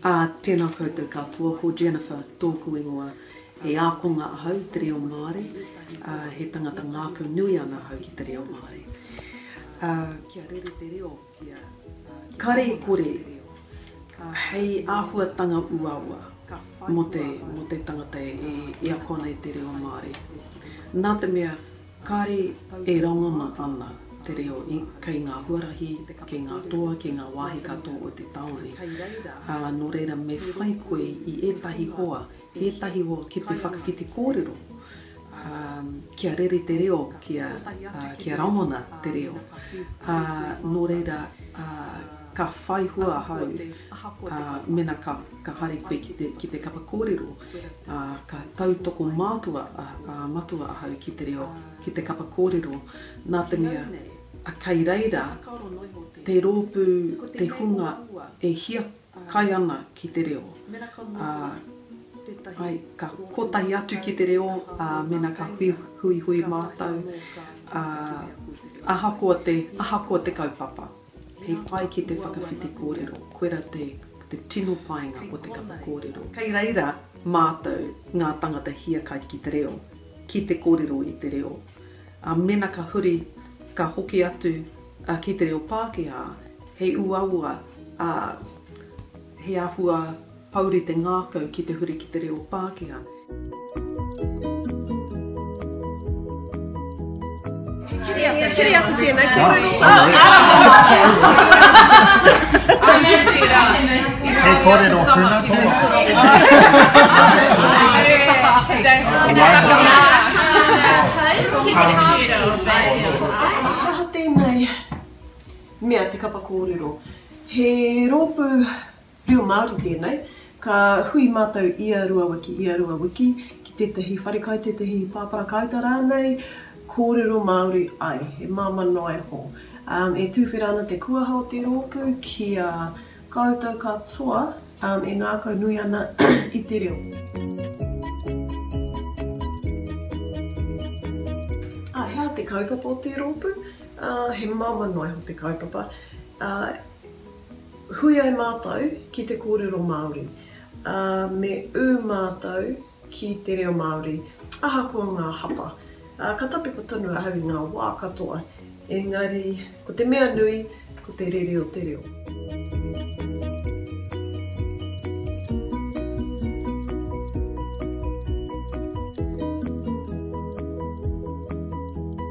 Ā, tēnā koutou katoa, ko Jennifer tōku ingoa. He ākonga ahau i te reo Māori, ā, he tangata ngākau nui ana ahau ki te reo Māori. Ā, kia rere te reo, kia, ā, kare e kore, ā, hei āhuatanga uaua mō te, mō te tangata e, e ako ana i te reo Māori. Nā te mea. Kāre e rangona ana te reo kei ngā huarahi, kei ngā toa, kei ngā wāhi katoa o te tāone, ā, nō reira me whai koe i ētahi hoa, ētahi hoa ki te whakawhiti kōrero, ā, kia rere te reo, kia, ā, kia rangona te reo. Ā, nō reira, ā, ka whai hua ahau, ā, mēnā ka, ka haere koe ki te, ki te kapa kōrero. ā, ka tautoko mātua a Matua ahau ki te reo, ki te kapa kōrero, nā te mea, kei reira te rōpū, te hunga e hiakai ana ki te reo, ā, āe, ka kotahi atu ki te reo, ā, mēnā ka huihui mātou, ā, ahakoa te, ahakoa te kaupapa. He pai ki te whakawhiti kōrero, koirā te tino painga o te kapa kōrero. Kei reira mātou ngā tangata hiakai ki te reo, ki te kōrero i te reo. Ā, mēnā ka huri, ka hoki atu ki te reo Pākehā, he uaua, ā, he āhua Pouri te ngākau ki te huri ki te reo Pākehā. Aha tēnei mea te kapa kōrero? He rōpū. Reo Māori tēnei, ka hui mātou ia rua wiki, ia rua wiki, ki tētahi wharekai, tētahi pāpara kāuta rānei, kōrero Māori ai, he māmā noa iho. E tūwhera ana te kuaha o te rōpū ki a koutou katoa e ngākau nui ana i te reo. Ā, he aha te kaupapa o te rōpū? He māmā noa iho te kaupapa. Hui ai mātou ki te kōrero Māori, ā, me ū mātou ki te reo Māori, ahakoa ngā hapa. Ka tapepa tonu ahau i ngā wā katoa, engari ko te mea nui, ko te rere o te reo.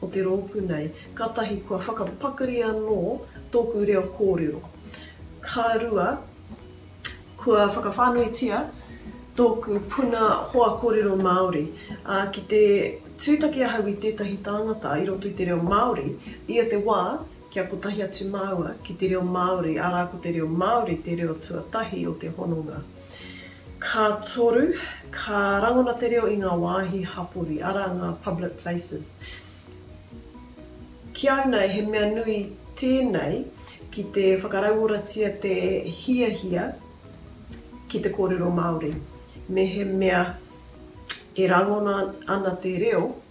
o te rōpū nei, kātahi kua whakapakari anō tōku reo kōrero. Ka rua, kua whakawhānuitia tōku puna hoa kōrero Māori. Ā, ki te tūtaki ahau i tētahi tāngata i roto i te reo Māori, ia te wā kia kotahi atu māua ki te reo Māori, arā, ko te reo Māori te reo tuatahi o te hononga. Ka toru, ka rangona te reo i ngā wāhi hapori, arā ngā public places. Ki au nei, he mea nui tēnei ki te whakarauoratia te hiahia ki te kōrero Māori. Mehemea e rangona ana te reo,